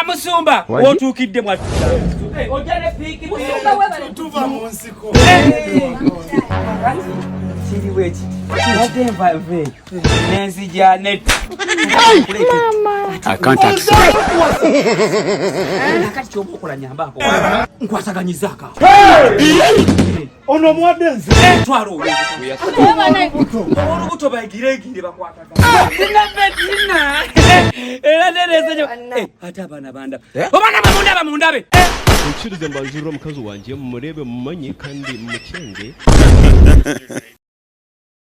amusumba wotuukidde mwattu kiri bwekiti ate nvave nenzija net kati kyoba okola nyambako nkwasaganyizaako Ono muwadde nze. Eh, twala olubuto. Twala olubuto bayigireegire bakwatagana. Ah, sina betina. Eh, era nereze nyo. Eh, ate abaana bandaba. Obaana bamundaba mundabe. Mukkirize mbanzirira omukazi wange mumurebe mumanye kandi mumukyenge.